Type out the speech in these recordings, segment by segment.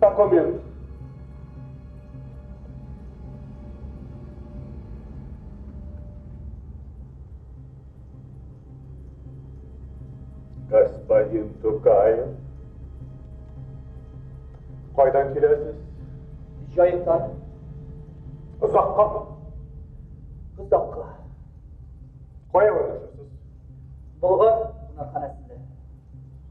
Документ. Господин Тукаев. Кайдан киләсез? Җаектан. Озакка. Озакка. Кая урнашасыз? Болгар кунакханәсендә.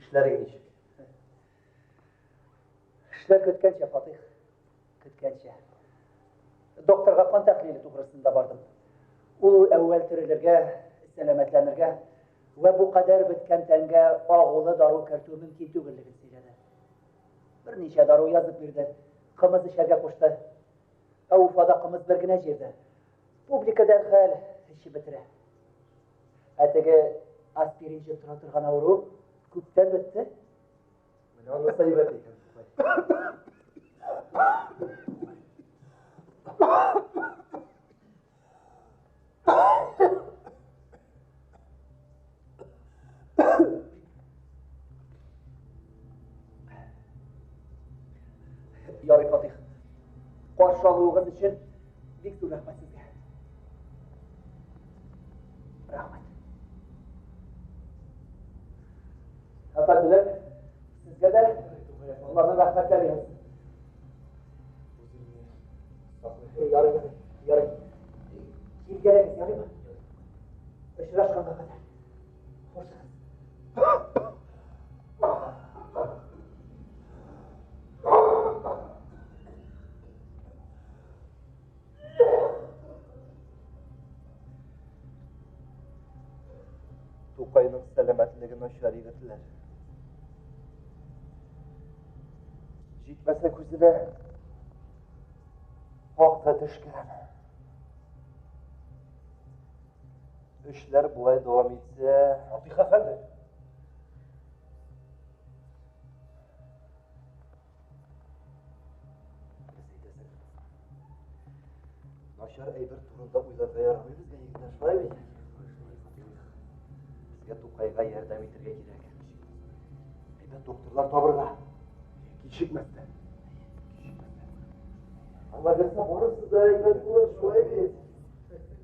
Эшләрең ничек? Эшләр көткәнчә, Фатих. Көткәнчә. Докторга кан тәхлиле тугрысында бардым. Ул әүвәл терелергә, сәламәтләнергә вә бу кадәр беткән тәнгә агулы дару кертү мөмкин түгеллеген сөйләде. Берничә дару язып бирде, кымыз эчәргә кушты. Ә Уфада кымыз бер генә җирдә. Публика дәрхәл эчеп бетерә. Ә теге аспиринче тора торган авыру күптән бетте. Менә аны сәйбәт икән. Ярый, Фатих. Каршы алуыгыз өчен бик зур рәхмәт сезгә. Рәхмәт. Әфәнделәр, сезгә дә Аллаһның рәхмәтләре яусын. Ярый, ярый. Килгәлегез ярыймы? Очрашканга кадәр. Тукайның сәламәтлеге начар егетләр. Җитмәсә күзенә вакыт төшкән. Эшләр болай дәвам итсә, Атыйк әфәнде. Начар әйбер турында уйларга ярамый безгә егетләр, шулай бит? Безгә Тукайга ярдәм итәргә кирәк. Әйбәт докторлар табырга. Кичекмәстән. Алла берсе барысы да әйбәт булыр, шулай бит?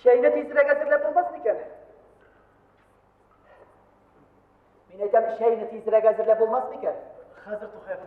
Чәйне тизрәк әзерләп булмас икән? Мин әйтәм, чәйне тизрәк әзерләп булмас икән? Хәзер тухаем.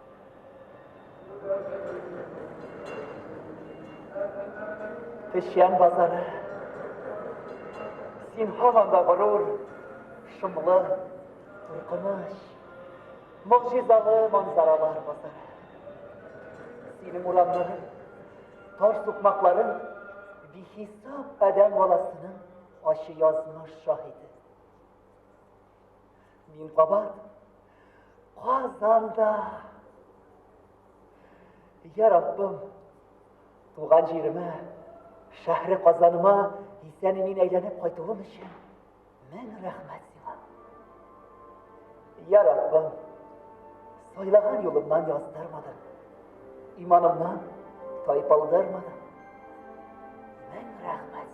Тешян базары. Син һаманда горур, шомлы, куркыныч, могҗизалы манзаралар базары. Синең урамнарың, таш сукмакларың бихисап адәм баласының ачы язмыш шаһиты. Мин кабат Казанда. Я Раббым, туган җиремә, шәһри Казаныма исән мин әйләнеп кайтуым өчен мең рәхмәт сиңа. Я Раббым, сайлаган юлымнан яздырмадың, иманымнан тайпалдырмадың. Мең рәхмәт.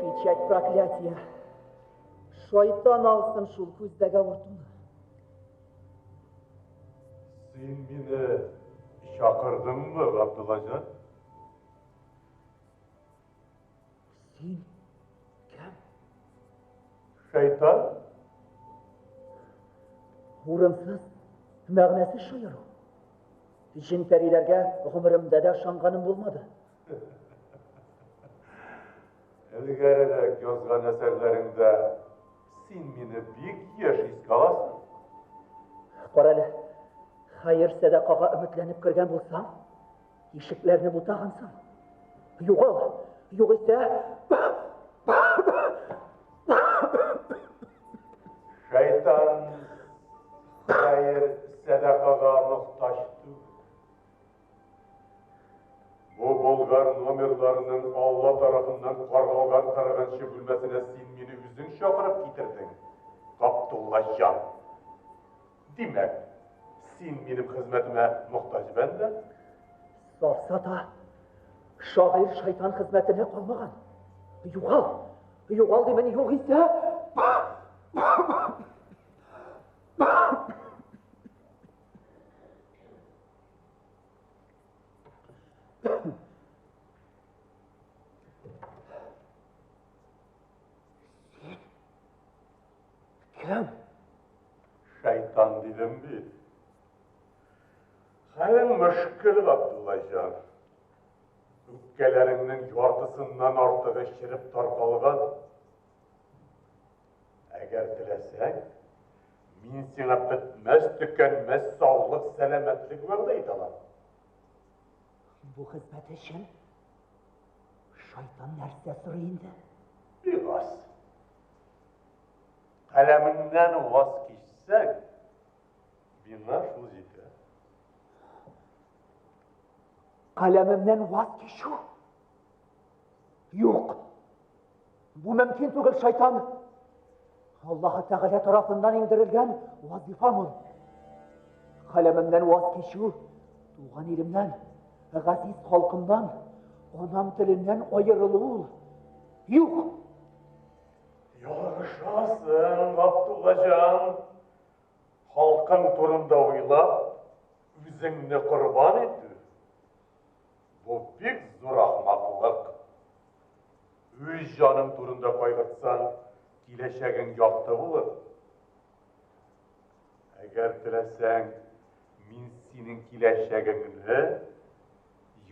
Печать проклятия. Шайтан алсын шул күздәге авыртуны. Син мине чакырдыңмы, Габдуллаҗан? Син кем? Шайтан? Урынсыз мәгънәсез шаяру. Җен пәриләргә гомеремдә дә ышанганым булмады. Элгәрерәк язган әсәрләреңдә син мине бик яшь искә аласың. Кара әле, хәер сәдакага өметләнеп кергән булсаң, Ишекләрне бутагансың. Югал, югыйсә... Шайтан хәер сәдакага мохтаҗ түгел. Бу болгар номерларының Алла тарафыннан каргалган кырыгынчы бүлмәсенә син мине үзең чакырып китердең, Каптулла җан. Димәк, син минем хезмәтемә мохтаҗ бәндә? Сарса да шагыйрь шайтан хезмәтенә калмаган. Югал, югал димен, югыйсә... Фикерем. Шайтан дидем бит. Хәлең мөшкел, Габдуллаҗан. Үпкәләреңнең яртысыннан артыгы чиреп таркалган. Әгәр теләсәң, мин сиңа бетмәс төкәнмәс саулык, сәламәтлек вәгъдә итәм. Бу хезмәт өчен шайтан нәрсә сорый инде? Бигас. Каләмеңнән ваз кичсәң, миңа шул җитә. Каләмемнән ваз кичү? Юк. Бу мөмкин түгел, шайтан. Аллаһы Тәгалә тарафыннан иңдерелгән вазифам ул. Каләмемнән ваз кичү, туган илемнән, газиз халкымнан, анам теленнән аерылу ул. Юк. Ярышасың, Габдуллаҗан. Халкың турында уйлап, үзеңне корбан итү. Бу бик зур ахмаклык. Үз җаның турында кайгыртсаң, киләчәгең якты булыр. Әгәр теләсәң, мин синең киләчәгеңне,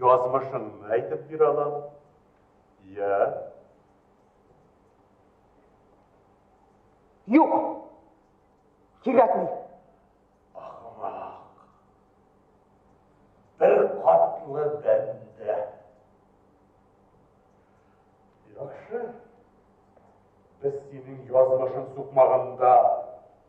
язмышыңны әйтеп бирә алам. Йә. Юк. Кирәкми. Ахмак. Бер катлы бәндә. Яхшы. Без синең язмышын сукмаганда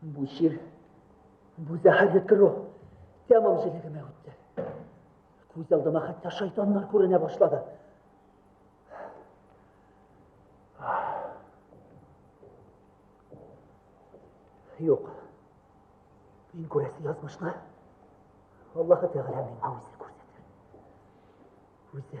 Бу җир, бу зәһәрле тору тәмам җелегемә үтте. Күз алдыма хәтта шайтаннар күренә башлады. Юк. Мин күрәсе язмышны Аллаһы Тәгалә миңа үзе күрсәтер. Үзе.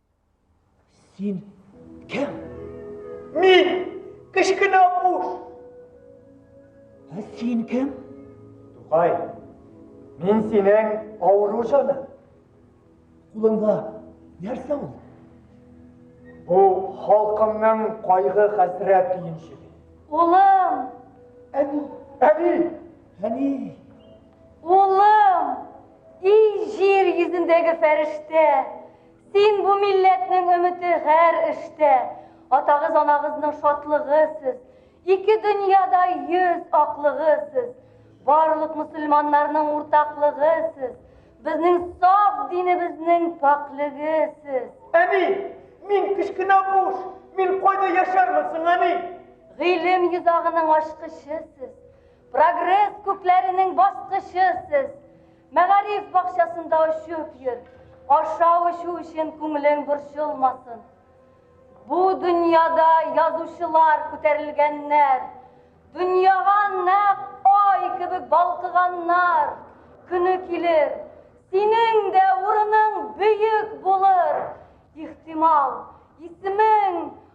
Син кем? Мин! Кечкенә буш! Ә син кем? Тукай, мин синең авыру жаны. Кулыңда нәрсә ул? Бу халкымның кайгы хәсрәт төенчеге. Улым! Әни! Әни! Әни! Улым! И җир йөзендәге фәрештә! Син бу милләтнең өмете гәр эштә. Атагыз, анагызның шатлыгы сез. Ике дөньяда йөз аклыгы сез. Барлык мусульманнарның уртаклыгы сез. Безнең саф динебезнең пакьлеге сез. Әни, мин кечкенә буш, мин кайда яшәрмен соң, әни? Гыйлем йозагының ачкычы сез. Прогресс күкләренең баскычы сез. Мәгариф бакчасында очып йөр, ашау эчү өчен күңелең борчылмасын. Бу дөньяда язучылар күтәрелгәннәр, дөньяга нәкъ ай кебек балкыганнар. Көне килер, синең дә урының бөек булыр, ихтимал, исемең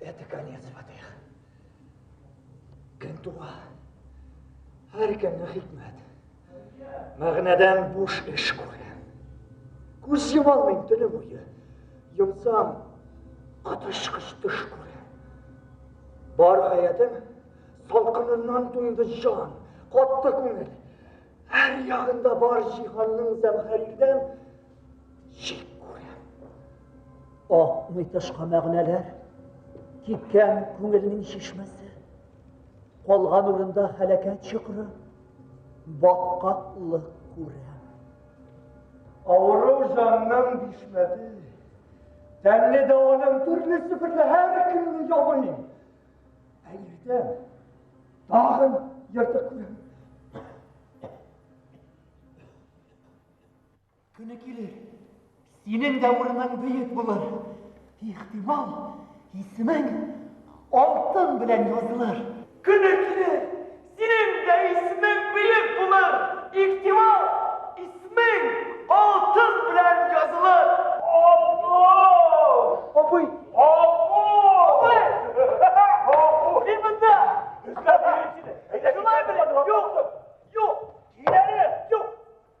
Это конец, Фатих. Кем туга? Һәр кемне хикмәт. Мәгънәдән буш эш күргән. Күз йома алмыйм төне буе. Йомсам, катышкыч төш күрәм. Бар гаятем салкыныннан туйды җан, катты күңел. Һәр ягында бар җиһанның зәмһәрирдән Шик күрәм. Акмый тышка мәгънәләр, кипкән күңелнең чишмәсе. Калган урында хәләкәт чокыры, баткаклык күрәм. Авыру җанның бишмәте, тәмле даваның төрле сыпырлы һәр көнне ябыйм. Ә иртә тагын ертык күрәм. Көне килер, синең дә урының бөек булыр. Ихтимал, исемең алтын белән язылыр. Көне килер, синең дә исемең бөек булыр. Ихтимал, исемең алтын белән язылыр. Абый! Абый! Мин монда! Шулай белем! Юк! Юк! Киләре! Юк!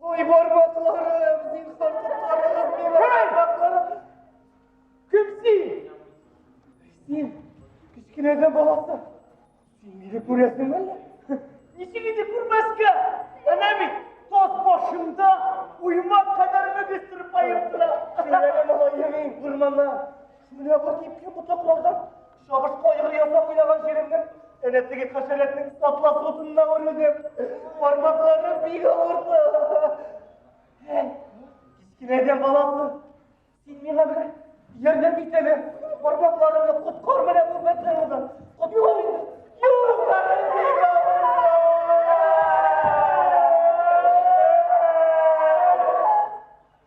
Ой, бармакларым, зинһар котларыгыз мені, бармакларым. Кем син? Син, кечкенәдән баласы. Син мине күрәсеңме әллә? Ничек инде күрмәскә? Әнә бит, таз башында уйма кадәр мөгез төреп аерып тора. Шулай малаем, урманнан. Шулай бар кипкән ботаклардан Чабышка айгыр ясап уйнаган җиремнең, әнә теге хәшәрәтнең сатлас утынына үрелдем. Бармакларым бик авырды. Әй, кечкенәдән баласы, син миңа бер ярдәм ит әле. Бармакларымны коткар менә бу бәтләреңдән. Коткар инде. Юлларым бик авырды.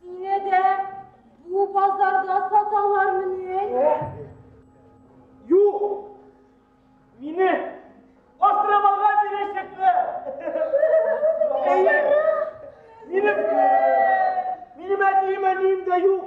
Сине дә бу базарда саталармыни? Юк! Мине Костромага бирәчәкләр! Минем, минем әтием-әнием дә юк.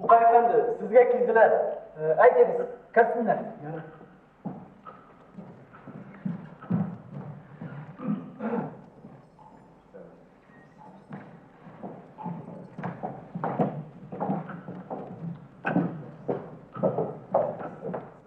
Тукай әфәнде, сезгә килделәр. Э, әйтегез, керсеннәр.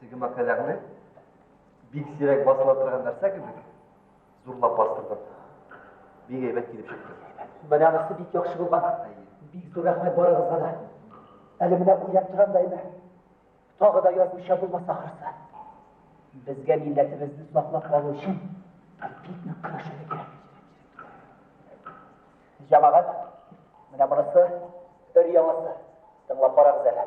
Теге мәкаләңне бик сирәк басыла торган нәрсә кебек зурлап бастырдым. Бик әйбәт килеп чыкты. Бәләгесе бик яхшы булган. Бик зур рәхмәт барыгызга да. Әле менә уйлап торам да әйбәт. Тагы да язмыша булмас ахырсы. Безгә милләтебезне саклап калу өчен бик нык көрәшергә кирәк. Җәмәгать, менә монысы өр яңасы. Тыңлап карагыз әле.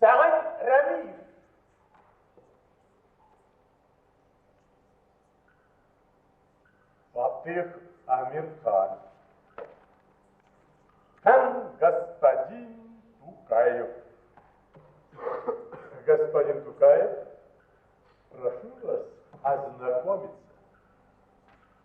Сәгыйть Рәмиев. Фатих Амирхан. Һәм господин Тукаев. Господин Тукаев, прошу вас ознакомиться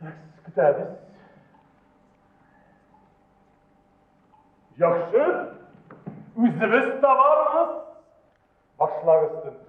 Текст көтәбез. Яхшы, үзебез табарбыз. Башлагыз тентүне.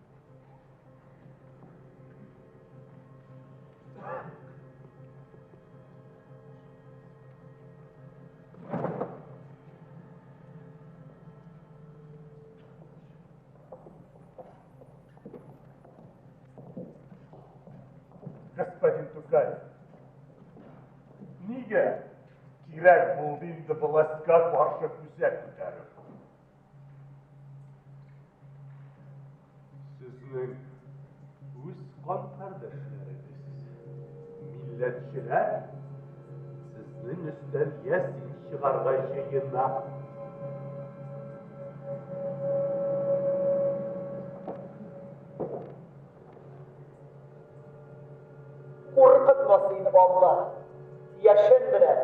господин Тукаев. Нигә кирәк булды инде властька каршы күзәк күтәреп? Сезнең үз кан кардәшләрегез, милләтчеләр, сезнең өстән ясин чыгарга җыена. Куркытмас инде, Алла, яшен белән.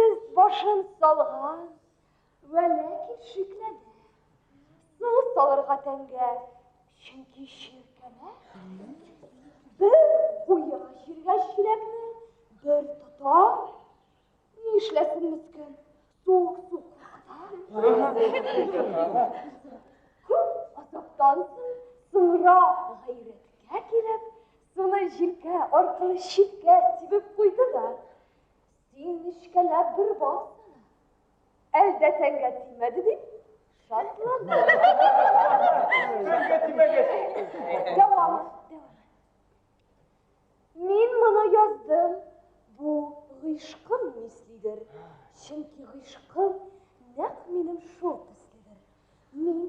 Үз башын салган, вә ләкин шикләнә. Су салырга тәнгә, чөнки чиркәнә. Бер куя җиргә чиләкне, бер тота. Ни эшләсен мескен? Суык су куркыта. Күп азаптан соң сыра гайрәткә килеп, суны җилкә аркылы читкә сибеп куйды да Син нечкәләп бер бассана. Әлдә тәнгә тимәде дип шатлана. Тәнгә тимәгәч. Дәвам. Мин моны яздым. Бу гыйшкым мислидер. Чөнки гыйшкым нәкъ минем шул төследер. Мин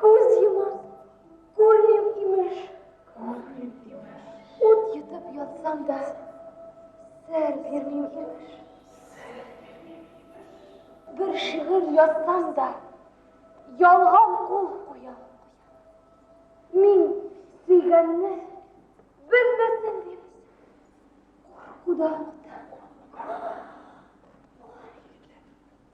Күз йомам, күрмим имеш. Күрмим имеш. Ут йотып ятсам да, сер бирмим имеш. Сер бирмим имеш. Бер шигырь язсам да, ялган кул куям. Мин сөйгәнне белмәсен дип, куркудан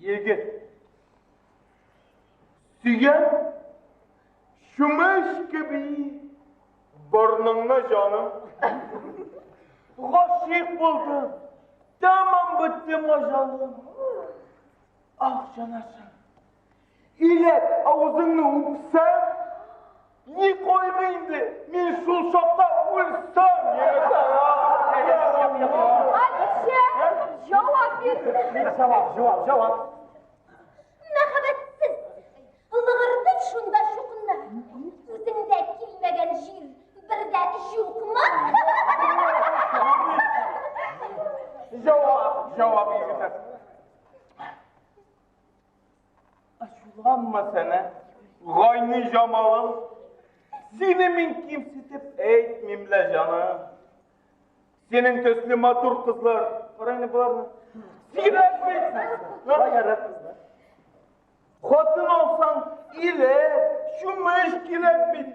Егет. Сөйгән чүмеч кеби борныңны җаным. Гашыйк булдым. Тәмам беттем ажалым. Ах, җанашым. Иләк, авызыңны үпсәм, ни кайгы инде, мин шул чакта үлсәм, Хәдичә, җавап бир. Җавап, җавап, җавап. Мәхәббәтсез. Лыгырдып шунда чукынна. Үзеңдә килмәгән җир бер дә юкмы? Җавап, җавап, егетләр. Ачуланма, Сәнә, гайни җамалым. Сине мин кимсетеп әйтмим лә, җаным. Синең төсле матур кызлар, карайны боларны. Сирәк бит. Баярак кызлар. Хатын алсаң, иле, чумыш кирәк бит.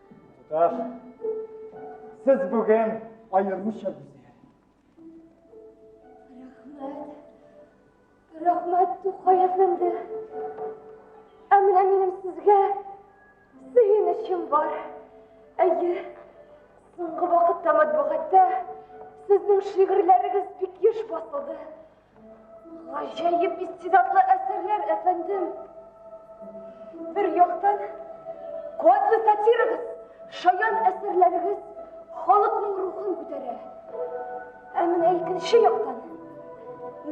Туташ, сез бүген аеруча гүзәл. Рәхмәт. Рәхмәт, Тукай әфәнде. Ә менә минем сезгә сөенечем бар. Әйе, соңгы вакытта матбугатта сезнең шигырьләрегез бик еш басылды. Гаҗәеп истидатлы әсәрләр, әфәндем. Бер яктан, куәтле сатирагыз, шаян әсәрләрегез халыкның рухын күтәрә. Ә менә икенче яктан,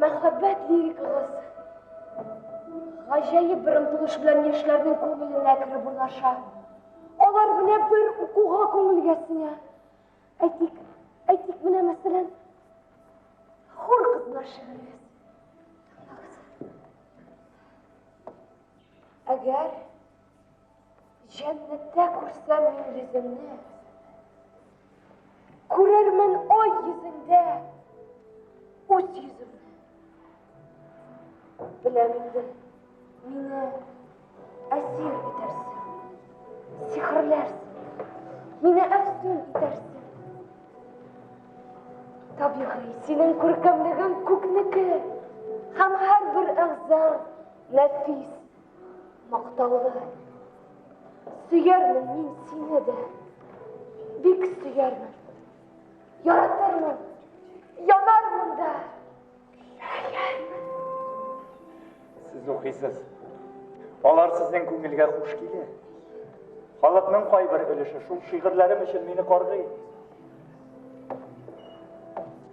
мәхәббәт лирикагыз гаҗәеп бер омтылыш белән яшьләрнең күңеленә кереп урнаша. Алар белән бер укуга күңелгә сеңә. Әйтик, әйтик, менә мәсәлән, хур кызлар шигырегез. Әгәр җәннәттә күрсәм мин йөзеңне, күрермен ой йөзеңдә үз йөземне. Беләм инде, мине әсир итәрсең, сихерләрсең, мине әфсүн итәрсең. Табигый, синең күркәмлегең күкнеке һәм һәрбер әгъза нәфис, мактаулы. Сөярмен мин сине дә, бик сөярмен. Яратырмын, янармын да, Сез укыйсыз. Алар сезнең күңелгә хуш килә. Халыкның кайбер өлеше шул шигырьләрем өчен мине каргый.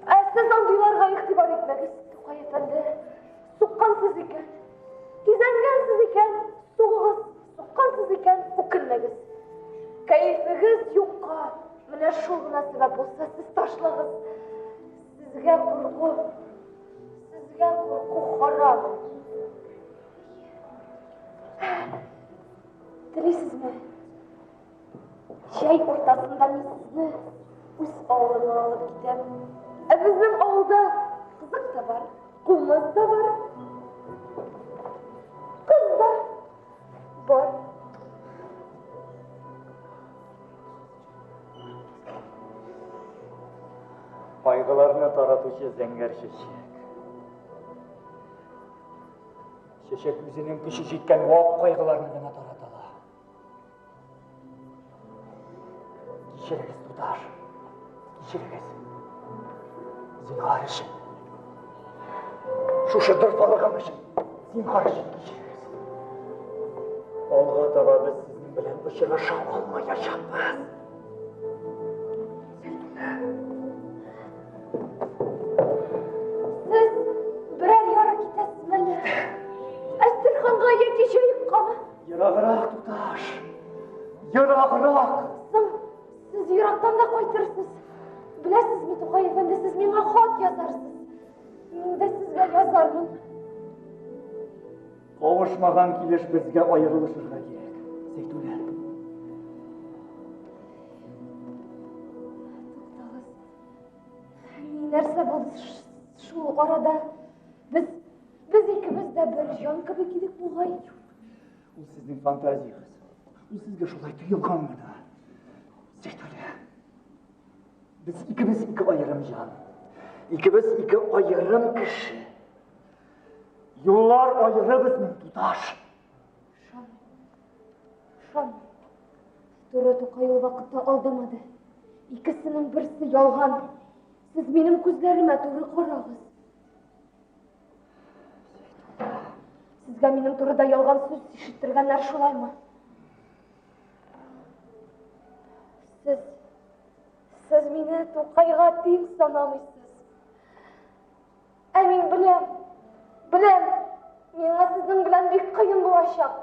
Ә сез андыйларга игътибар итмәгез, Тукай әфәнде. Суккансыз икән, кизәнгәнсез икән, сугыгыз, суккансыз икән, үкенмәгез. Кәефегез юкка, менә шул гына сәбәп булса, сез ташлагыз. Сезгә курку, сезгә курку харам. Телисезме? Чәй уртасында мин сезне үз авылыма алып китәм. Ә безнең авылда кызык та бар, кумыз да бар. Кыз да бар. Кайгыларны таратучы зәңгәр чәчәк. Чәчәк үзенең көче җиткән вак кайгыларны гына тарата ала. Кичерегез, туташ. Кичерегез. Зинхар өчен. Шушы дорфалыгым өчен. Зинхар өчен кичерегез. Алга таба без сезнең белән очраша алмаячакбыз. Ерагырак, туташ, ерагырак. Сез ерактан да кайтырсыз. Беләсезме, Тукай әфәнде, сез миңа хат язарсыз. Мин дә сезгә язармын. Кавышмаган килеш безгә аерылышырга кирәк, Зәйтүнә. Туктагыз. Нәрсә булды шул арада? Без без икебез дә бер җан кебек идек бугай. Ул сезнең фантазиягез. Ул сезгә шулай тоелганмы да? Сәйтәле. Без икебез ике аерым җан. Икебез ике аерым кеше. Юллар аеры безнең туташ. Шам. Шам. Туры Тукай ул вакытта алдамады. Икесенең берсе ялган. Сез минем күзләремә туры карагыз. Сезгә минем турыда ялган сүз ишеттергәннәр шулаймы? Сез сез мине Тукайга тиң санамыйсыз. Ә мин беләм, беләм, миңа сезнең белән бик кыен булачак.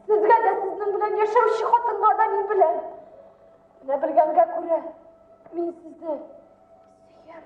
Сезгә дә сезнең белән яшәүче хатынга да мин беләм. Менә белгәнгә күрә, мин сезне сөям.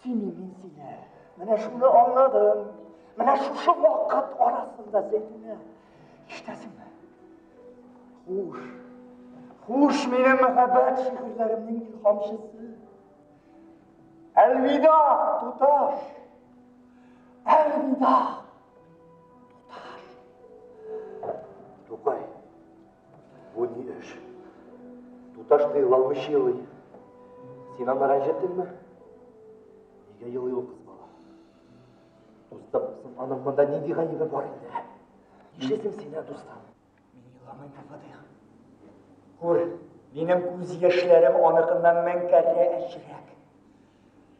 Сине мин сине, менә шуны аңладым. Менә шушы вакыт арасында Зәйтүнә, ишетәсеңме? Хуш, хуш минем мәхәббәт шигырьләремнең илһамчысы. Әлвида, туташ! Әлвида! Туташ! Тукай, Бу ни эш? Туташ тыела алмыйча елый. Син аны рәнҗеттеңме? Нигә елый ул кыз бала? Дустым, соң аның монда нинди гаебе бар инде? Нишлисең син, ә дустым? Мин еламыйм, Фатих. Күр, минем күз яшьләрем аныкыннан мәңкәррә әчерәк.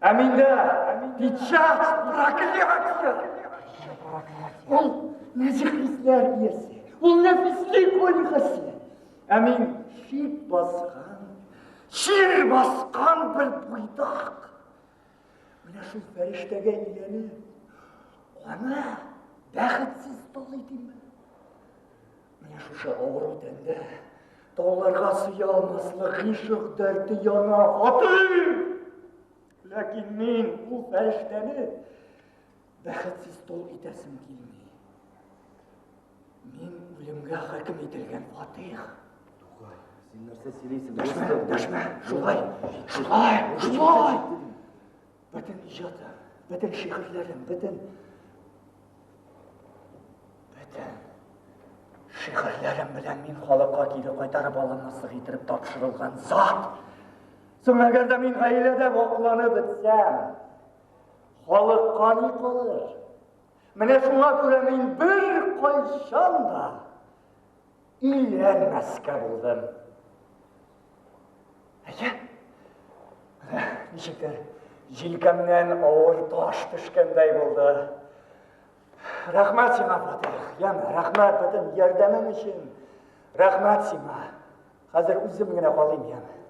Ә миндә печать проклятия. Ул нәҗих хисләр иясе. Ул нәфислек ольгасы. Ә мин шик баскан, чир баскан бер буйдак. Менә шул фәрештәгә иленеп, аны бәхетсез тол итимме? Менә шушы авыру тәндә тауларга сыя алмаслык гыйшык дәрте яна, хатыным! Ләкин мин ул фәрештәне бәхетсез тол итәсем килми. Мин үлемгә хөкем ителгән фатих. Тукай, син нәрсә сөйлисең? Дәшмә, дәшмә, шулай, шулай, шулай. Бөтен иҗатым, бөтен шигырьләрем, бөтен бөтен шигырьләрем белән мин халыкка кире кайтарып алынмаслык итеп тапшырылган зат. Соң әгәр дә мин гаиләдә вакланып бетсәм, халыкка ни калыр? Менә шуңа күрә мин бер кайчан да Өйләнмәскә булдым. Әйе. Ничектер, җилкәмнән авыр таш төшкәндәй булды. Рәхмәт сиңа, Фатих. Ян, рәхмәт бөтен ярдәмең өчен. Рәхмәт сиңа. Хәзер үзем генә калыйм, ян.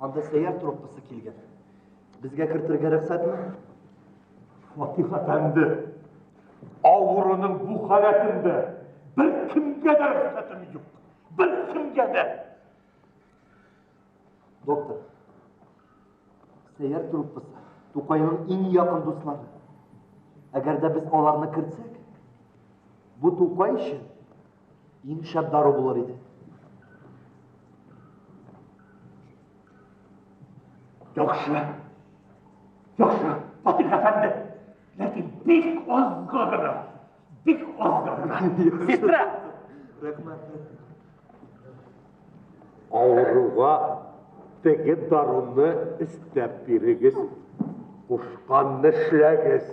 Анда сәйяр труппасы килгән. Безгә кертергә рөхсәтме? Фатих әфәнде, авыруның бу халәтендә бер кемгә дә рөхсәтем юк. Бер кемгә дә. Доктор, сәйяр труппасы Тукайның иң якын дуслары. Әгәр дә без аларны кертсәк, бу Тукай өчен Иң шәп дару булыр иде. Яхшы. Яхшы, Фатих әфәнде. Ләкин бик азга гына. Бик азга гына. Сестра! Рәхмәт. Авыруга теге даруны өстәп бирегез. Кушканны эшләгез.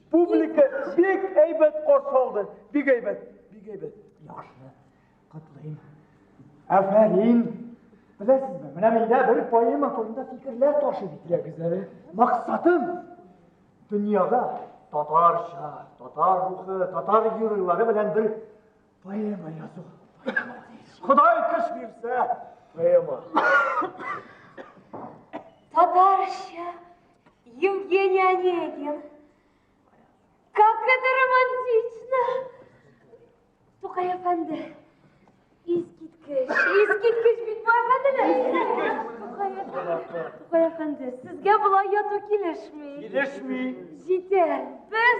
Публика бик әйбәт каршы алды. Бик әйбәт, бик әйбәт. Яхшы. Котлыйм. Афәрин. Беләсезме, менә миндә бер поэма турында фикерләр ташып итәгез әле. Максатым дөньяда татарча, татар рухы, татар геройлары белән бер Поэма язу. Құдай күш берсе, поэма. Татарша Евгений Онегин. Как это романтично! Тукай әфәнде, искиткеч, искиткеч бит бу әфәнделәр. Тукай әфәнде, сезгә болай яту килешми. Килешми. Җитәр, без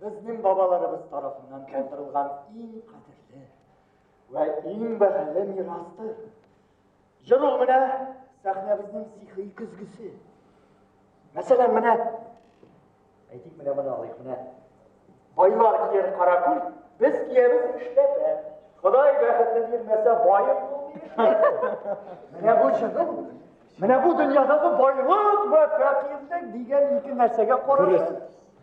Безнең бабаларыбыз тарафыннан калдырылган иң кадерле вә иң бәһале мирастыр. Җыр ул менә сәхнәбезнең сихри көзгесе. Мәсәлән, менә әйтик, менә моны алыйк, менә байлар кияр каракүл, без киябез эшләпә. Ходай бәхетне бирмәсә, баеп булмый. Менә бу җырның Менә бу дөньядагы байлык вә фәкыйрьлек дигән ике нәрсәгә карашып,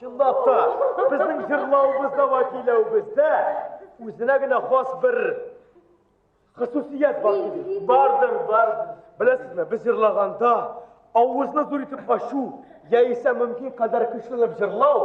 Чынлапта, безнең җырлавыбызда ва көйләвебездә үзенә генә хас бер хосусият бар кебек. Бардым, бардым. Беләсезме, без җырлаганда авызны зур итеп ачу, яисә мөмкин кадәр көчләнеп җырлау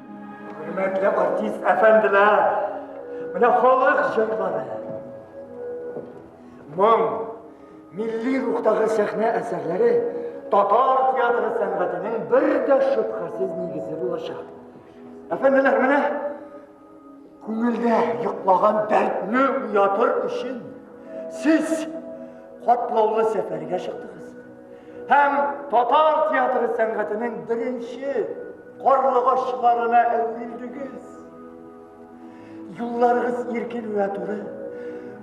Хөрмәтле артист әфәнделәр, менә халык җырлары. Моң, милли рухтагы сәхнә әсәрләре татар театры сәнгатенең бер дә шөбһәсез нигезе булачак. Әфәнделәр, менә күңелдә йоклаған дәртне уятыр өчен сез катлаулы сәфәргә чыктыгыз һәм татар театры сәнгатенең беренче Карлыгачларына әверелдегез. Юлларыгыз иркен вә туры.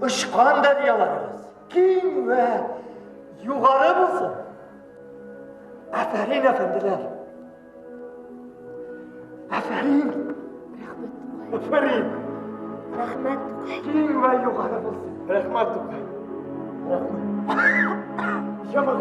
Очкан дәрьяларыгыз киң вә югары булсын. Афәрин, әфәнделәр. Афәрин. Рәхмәт. Афәрин. Рәхмәт. Киң вә югары булсын. Рәхмәт. Рәхмәт. Җаман.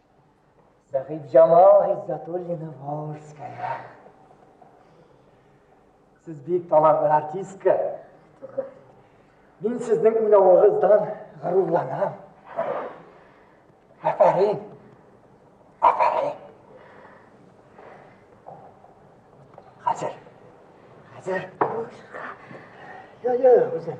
Сәхибҗамал Гиззатуллина Волжская. Сез бик талантлы артистка. Мин сезнең уйнавыгыздан горурланам. Афәрин. Афәрин. Хәзер. Хәзер. Юк, юк, үзем.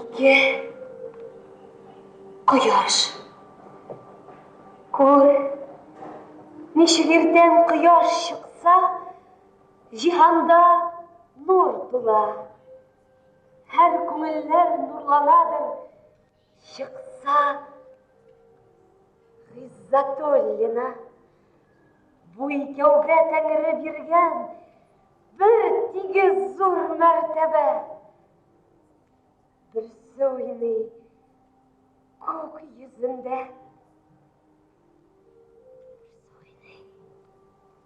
Ике кояш. Күр, ничек иртән кояш чыкса, җиһанда нур тула. Һәр күңелләр нурланадыр, Чыкса, Гыйззатуллина, бу икәүгә тәңре биргән бер тигез зур мәртәбә. Берсе уйный күк йөзендә.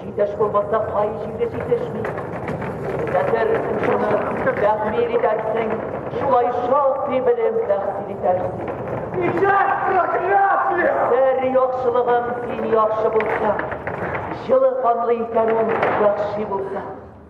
Җитеш булмаса, кай җирдә җитешми. Хәзер шуны тәхмил итәрсең, шулай шактый белем тәхсил итәрсең. Нишләп проклятие? Сәр яхшылыгың син яхшы булса, җылы канлы икәнең яхшы булса.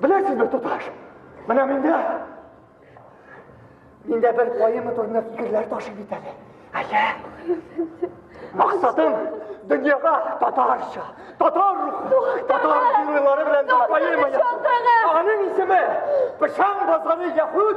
Беләсез бер туташ, менә миндә, миндә бер кайымы турында фикерләр ташып бит әле. Әйе. Максатым дөньяга татарча, татар рухы, татар геройлары белән бер поэма язу. Аның исеме Пышан базары яхуд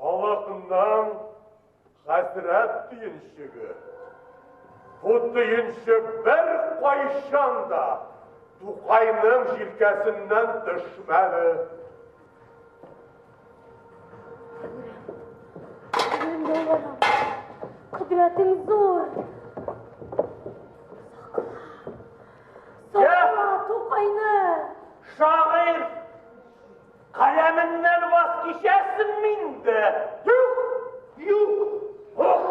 Халатымнан хәсрәт төенчеге. Бу төенчек бер кайчан да Тукайның җилкәсеннән төшмәде. Кудратың зур. Сакла, Тукайны. Шагыйрь Каләменнән ваз кичәсен минде. Юк, юк, ух.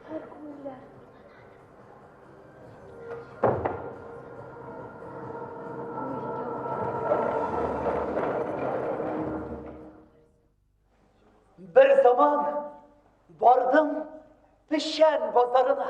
Һәр күңелләр. Бер заман бардым пешән базарына.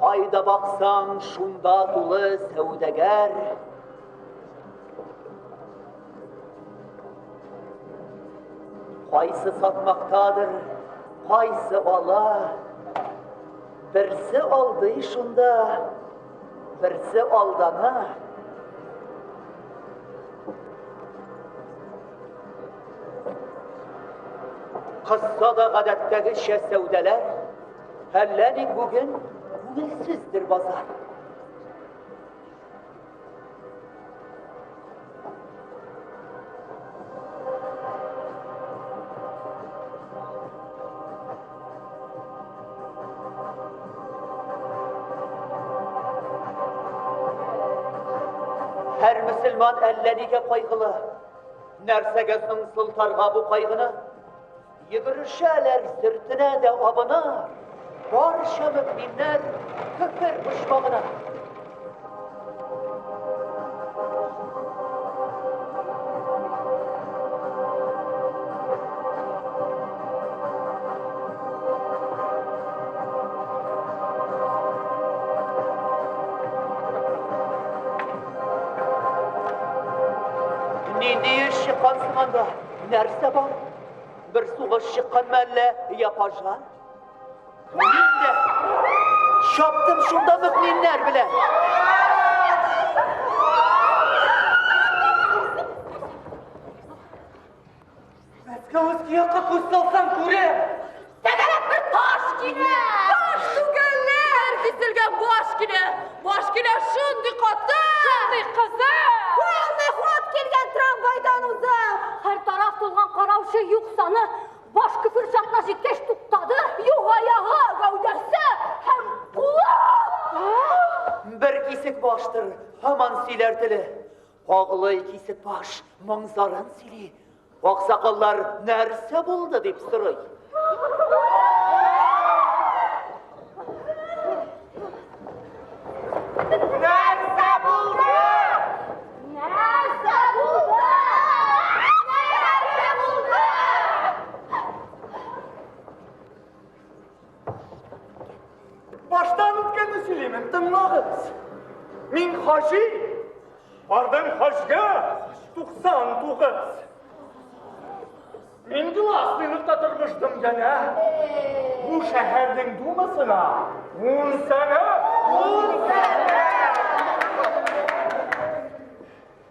Кайда баксаң, шунда тулы сәүдәгәр. Кайсы сатмактадыр, кайсы ала. Берсе алдый шунда, берсе алдана. Кызса да гадәттәгечә сәүдәләр Әллә ник бүген күңелсездер базар. Султан әллә нигә кайгылы. Нәрсәгә соң Султанга бу кайгыны? Йөгерешәләр сөртенә дә абына, барча мөкминнәр күпер почмагына. Нинди еш чыккансың анда? Нәрсә бар? Бер сугыш чыкканмы әллә, я пажа? Мин дә чаптым шунда мөкминнәр белән. Мәскәү өске якка күз салсаң күрә. Тәгәрәп бер таш килә! Таш түгәлләр! Киселгән баш килә! Баш килә шундый каты! Шундый кызы! Полный ход килгән трамвайдан уза! Һәр тараф тулган караучы юк саны! Баш көфер чакна җиткәч туктады! Юк аягы, гәүдәсе һәм кулы! Бер кисек баштыр, һаман сөйләр теле. Кагылый кисек баш, моң зарын сөйли. Аксакаллар нәрсә булды дип сорый. Баштан үткәнне сөйләймен, тыңлагыз. Мин хаҗи, бардым хаҗга 99. Мин гласлыйлыкта тормыштым генә. Бу шәһәрнең думасына ун сәгать, ун сәгать.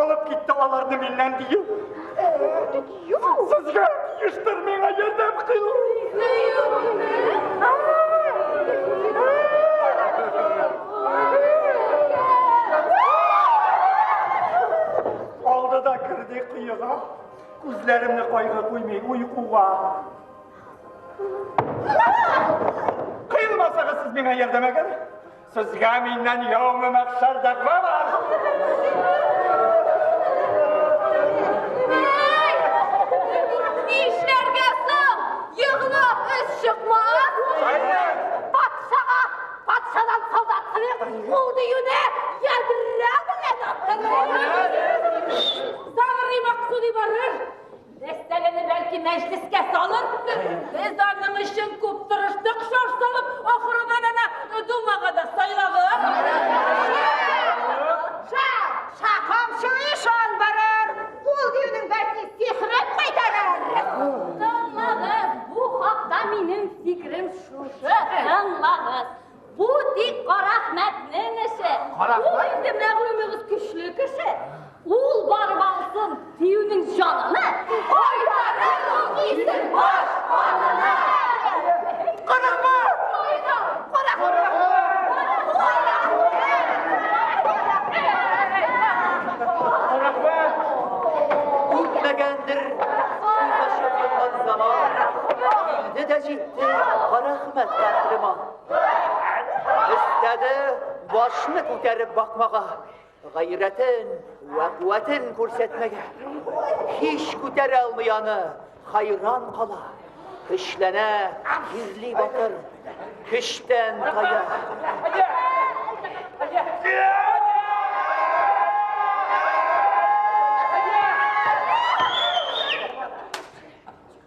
Алып китте аларны миннән дию. Сезгә тиештер миңа ярдәм кылу. Алды да керде кыйыга. Күзләремне кайгы куймый уйкуга. Кыйылмасагыз сез миңа ярдәм әгәр. Сезгә миннән яумы мәхшәр дәгъва бар. Нишләргә соң? Егылып үз чыкмас. Патшага, патшадан солдат кылык, ул диюне ядрә белән атырыр. Сагрый Максуди барыр. Мәсьәләне бәлки мәҗлескә салырсыз. Без аның өчен күп тырыштык, шаш салып, ахырына гына думага да сайлагыз. Ша, камчы ишан барыр. Ул диюнең бәлки сихрен кайтарыр. Тыңлагыз, бу хакта минем фикерем шушы, тыңлагыз. Бу тик Карахмәтнең эше. Ул инде мәгълүмегез көчле кеше. Ул барып алсын диюнең җанына. Кайтарыр ул кисен баш канына. Карахмәт! Үтмәгәндер Кара хмәт тәслиман Истәде башны күтәреп бакмага, гайрәтен вә куәтен күрсәтмәгә. Һич күтәрә алмый аны, хайран кала. Көчләнә, кирли батыр, көчтән тая.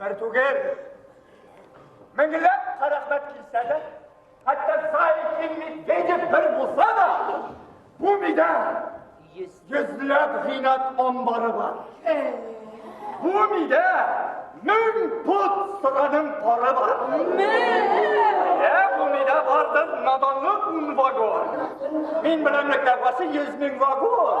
Бер түгел, меңләп карахмәт килсә дә, хәтта Саикин Медведев бер булса да, бу мидә йөзләп гыйнат амбары бар. Бу мидә мең пот сыраның пары бар. Ә бу мидә бардыр наданлык ун вагон. Мин беләмлекләр басы йөз мең вагон.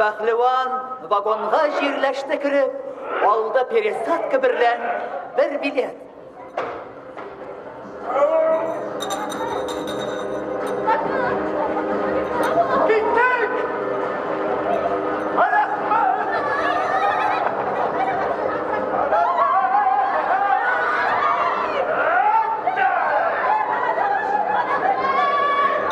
Пәһлеван вагонга җирләште кереп, алды пересадка берлән бер билет.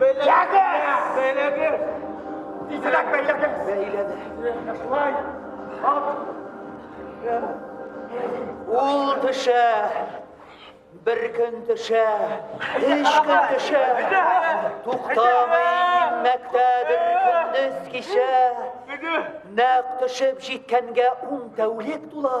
Белегез! Белегез! Тизрәк бәйләгез! Бәйләде. Шулай! Ат! Ул төшә! Бер көн төшә, өч көн төшә, туктамый инмәктә бер көндез кичә. Нәк төшеп җиткәнгә ун тәүлек тула,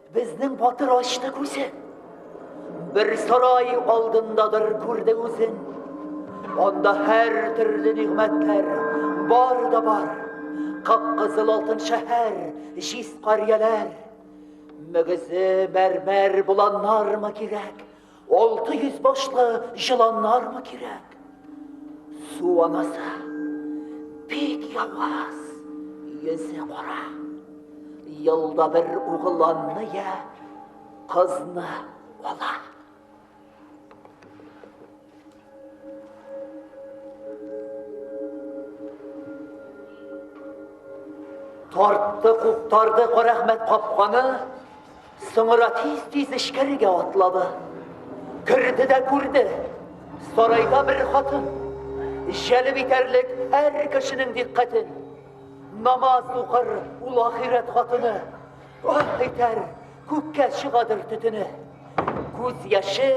Безнең батыр ачты күзе. Бер сарай алдындадыр күрде үзен. Анда һәр төрле нигъмәтләр бар да бар. Кап-кызыл алтын шәһәр, җиз карияләр. Мөгезе мәрмәр буланнармы кирәк? Алты йөз башлы җыланнармы кирәк? Су анасы бик яваз, йөзе кара. Елда бер угыланны я кызны ала. Тартты, куптарды Карәхмәт капканы, соңра тиз-тиз эчкәрегә атлады. Керде дә күрде, сарайда бер хатын. Җәлеп итәрлек әр кешенең диккатен. Намаз укыр ул ахирәт хатыны. Ах, итәр, күккә чыгадыр төтене. Күз яше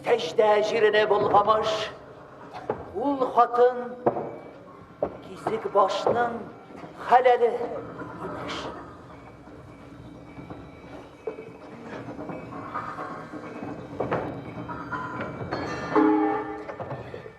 сәҗдә җирене болгамыш. Ул хатын кисек башның хәләле имеш.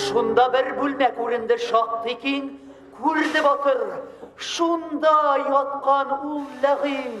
Шунда бер бүлмә күренде шактый киң, күрде батыр, шунда яткан ул ләгыйн.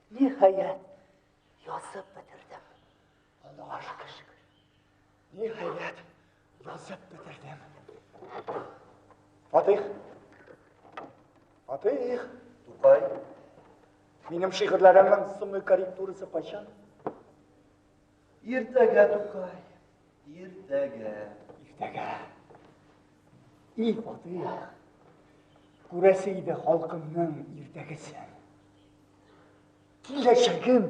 Ниһаять, язып бетердем. Аллага шөкер. Ниһаять, язып бетердем. Фатих. Фатих. Тукай. Минем шигырьләремнең соңгы корректурасы кайчан? Иртәгә, Тукай, иртәгә. Иртәгә. И Фатыйх, күрәсе иде халкымның иртәгесен. Киләчәгем.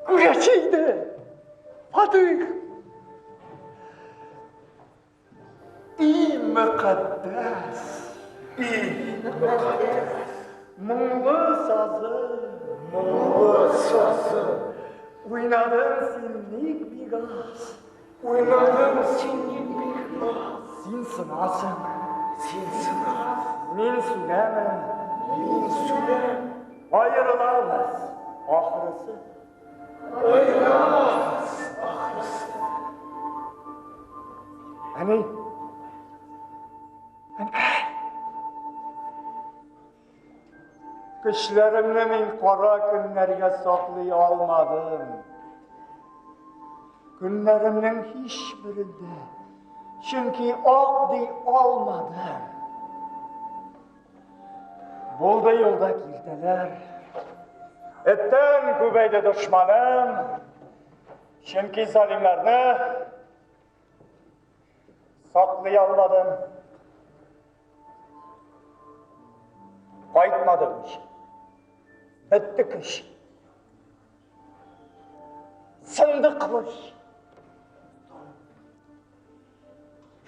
Күрәсе иде. Фатыйх. И мөкатдәс, и мөкатдәс, моңлы сазы, моңлы сазы, уйнадың син ник бик аз, уйнадың син ник бик аз, син сынасың, син сынасың, мин сүнәмен, мин сүнәм, аерылабыз, ахырысы. Көчләремне мин кара көннәргә саклый алмадым. Көннәремнең һич берендә, чөнки ак ди алмадым. Булды юлда килтәләр. Эттән күбәйде дошманым. Чөнки залимнәрне саклый алмадым. Кайтмады көч. Бетте көч. Сынды кылыч.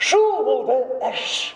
Шул булды әш.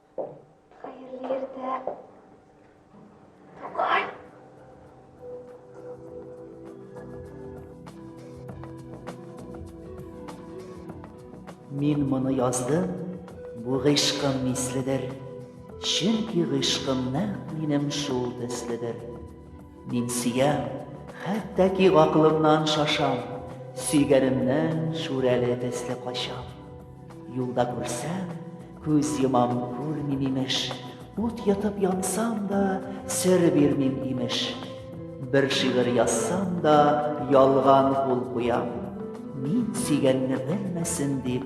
Хәерле иртә. Тукай. Мин моны яздым, бу гыйшкым миследер. Чөнки гыйшкым нәкъ минем шул төследер. Мин сөям, хәтта ки гакылымнан шашам, Сөйгәнемнән шүрәле төсле качам. Юлда күрсәм, күз йомам, күрмим имеш, Ут йотып янсам да, сер бирмим имеш. Бер шигырь язсам да, ялган кул куям, Мин сөйгәнне белмәсен дип,